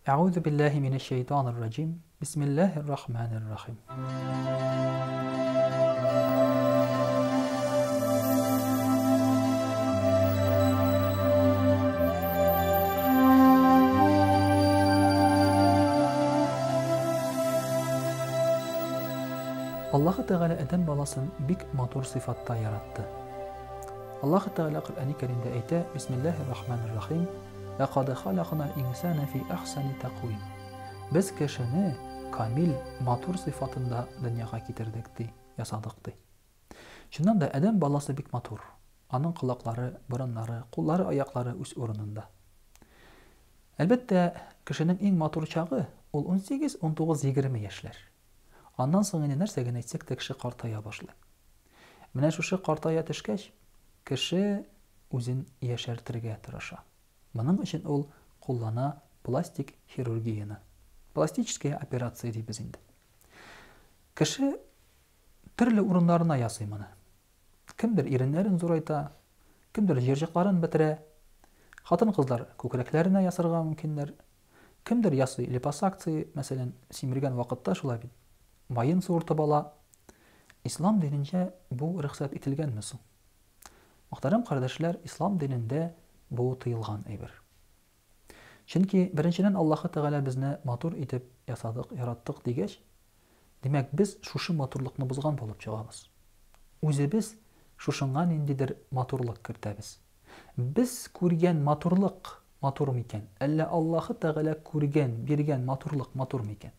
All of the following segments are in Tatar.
Әгузу билләһи минәш шәйтанир раҗим. Бисмилләһир рахманир Аллаһы Тәгалә Адәм баласын бик матур сыйфатта яратты. Аллаһы Тәгалә Коръәни Кәримдә әйтә: "Бисмиллаһир рахманир рахим" Ләкад халакнал инсана фи әхсәни тәкъвим. Без кешене камил, матур сыйфатында дөньяга китердек, ди, ясадык, ди. Чыннан да, адәм баласы бик матур. Аның колаклары, борыннары, куллары, аяклары үз урынында. Әлбәттә, кешенең иң матур чагы, ул унсигез, унтугыз, егерме яшьләр. Аннан соң инде нәрсә генә әйтсәк тә кеше картая башлый. Менә шушы картая төшкәч, кеше үзен яшәртергә тырыша. Моның өчен ул куллана пластик хирургияне. Пластическая операция дибез инде. Кеше төрле урыннарына ясый моны. Кемдер иреннәрен зурайта, кемдер җирҗакларын бетерә. Хатын-кызлар күкрәкләренә ясарга мөмкиннәр, Кемдер ясый липосакция, мәсәлән, симергән вакытта шулай бит, маен суыртып ала. Ислам диненчә бу рөхсәт ителгәнме соң? Мөхтәрәм кардәшләр, Ислам динендә бу тыелган әйбер. Чөнки, беренчедән, Аллаһы Тәгалә безне матур итеп ясадык, яраттык дигәч, Димәк, без шушы матурлыкны бозган булып чыгабыз. Үзебез шушыңа ниндидер матурлык кертәбез. Без күргән матурлык матур микән? Әллә Аллаһы Тәгалә күргән, биргән матурлык матур микән?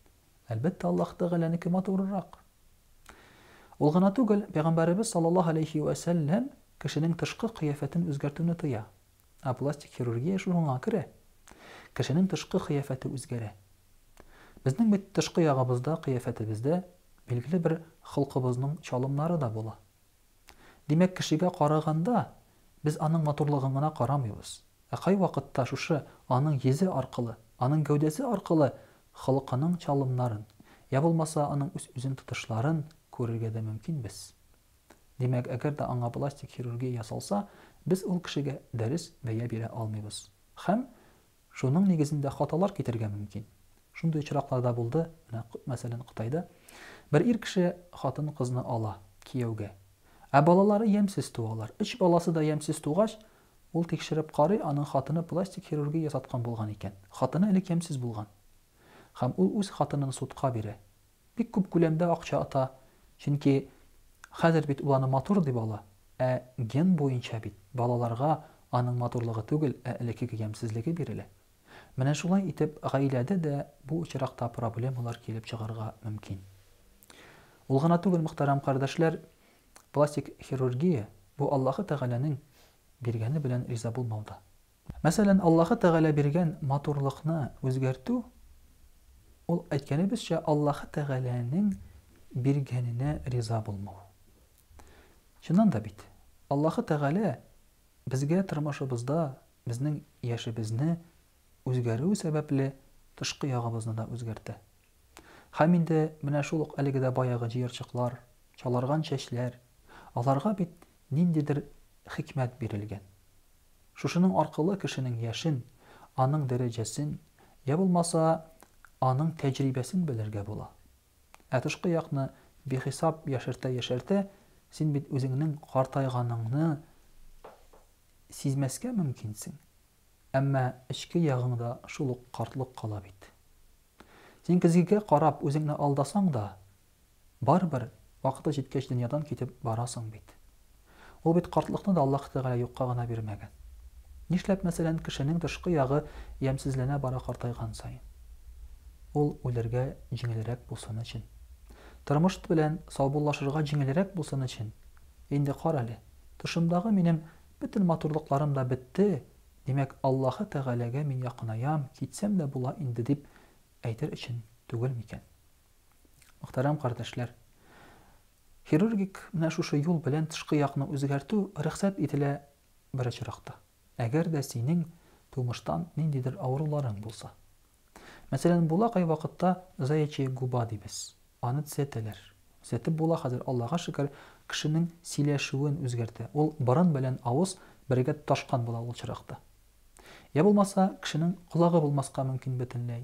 Әлбәттә, Аллаһы Тәгаләнеке матурырак. Ул гына түгел, Пәйгамбәребез саллаллаһу алейһи вә сәлләм кешенең тышкы кыяфәтен үзгәртүне тыя. Ә пластик хирургия шуңа керә. Кешенең тышкы кыяфәте үзгәрә. Безнең бит тышкы ягыбызда, кыяфәтебездә билгеле бер холкыбызның чалымнары да була. Димәк, кешегә караганда, без аның матурлыгын гына карамыйбыз, ә кайвакытта шушы аның йөзе аркылы, аның гәүдәсе аркылы холкының чалымнарын, я булмаса аның үз-үзен тотышларын күрергә дә мөмкин без. Димәк, әгәр дә аңа пластик хирургия ясалса, без ул кешегә дәрес бәя бирә алмыйбыз. Һәм шуның нигезендә хаталар китергә мөмкин. Шундый очраклар да булды, менә, мәсәлән, Кытайда. Бер ир кеше хатын-кызны ала кияүгә. Ә балалары ямьсез туалар. Өч баласы да ямьсез тугач, ул тикшереп карый, аның хатыны пластик хирургия ясаткан булган икән. Хатыны элек ямьсез булган. Һәм ул үз хатынын судка бирә. Бик күп күләмдә акча ота, чөнки хәзер бит ул аны матур дип ала, ә ген буенча бит балаларга аның матурлыгы түгел, ә элеккеге ямьсезлеге бирелә. Менә шулай итеп гаиләдә дә бу очракта проблемалар килеп чыгарга мөмкин. Ул гына түгел, мөхтәрәм кардәшләр, пластик хирургия, бу Аллаһы Тәгаләнең биргәне белән риза булмау да. Мәсәлән, Аллаһы Тәгалә биргән матурлыкны үзгәртү, ул, әйткәнебезчә, Аллаһы Тәгаләнең биргәненә риза булмау. Чыннан да бит, Аллаһы Тәгалә безгә тормышыбызда безнең яшебезне үзгәрү сәбәпле тышкы ягыбызны да үзгәртә. Һәм инде менә шул ук әлеге дә баягы җыерчыклар, чаларган чәчләр, аларга бит ниндидер хикмәт бирелгән. Шушының аркылы кешенең яшен, аның дәрәҗәсен, йә булмаса, аның тәҗрибәсен белергә була. Ә тышкы якны бихисап яшәртә-яшәртә, син бит үзеңнең картайганыңны сизмәскә мөмкинсең. Әмма эчке ягыңда шул ук картлык кала бит. Син көзгегә карап үзеңне алдасаң да, Барыбер, вакыты җиткәч дөньядан китеп барасың бит. Ул бит картлыкны да Аллаһ Тәгалә юкка гына бирмәгән. Нишләп, мәсәлән, кешенең тышкы ягы ямьсезләнә бара картайган саен? Ул үләргә җиңелрәк булсын өчен. Тормышт белән саубуллашырга җиңелрәк булсын өчен. Инде карале, тышымдагы минем бөтен матурлыкларым да бетте, димәк, Аллаһы Тәгаләгә мин якынаям, китсәм дә була инде, дип әйтер өчен түгел микән? Мөхтәрәм кардәшләр! Хирургик менә шушы юл белән тышкы якны үзгәртү рөхсәт ителә бер очракта, әгәр дә синең тумыштан ниндидер авыруларың булса. Мәсәлән, була кайвакытта заячья губа дибез, аны төзәтәләр. Төзәтеп була хәзер, Аллага шөкер, кешенең сөйләшүен үзгәртә, ул борын белән авыз бергә тоташкан була ул очракта. Йә булмаса, кешенең колагы булмаска мөмкин бөтенләй.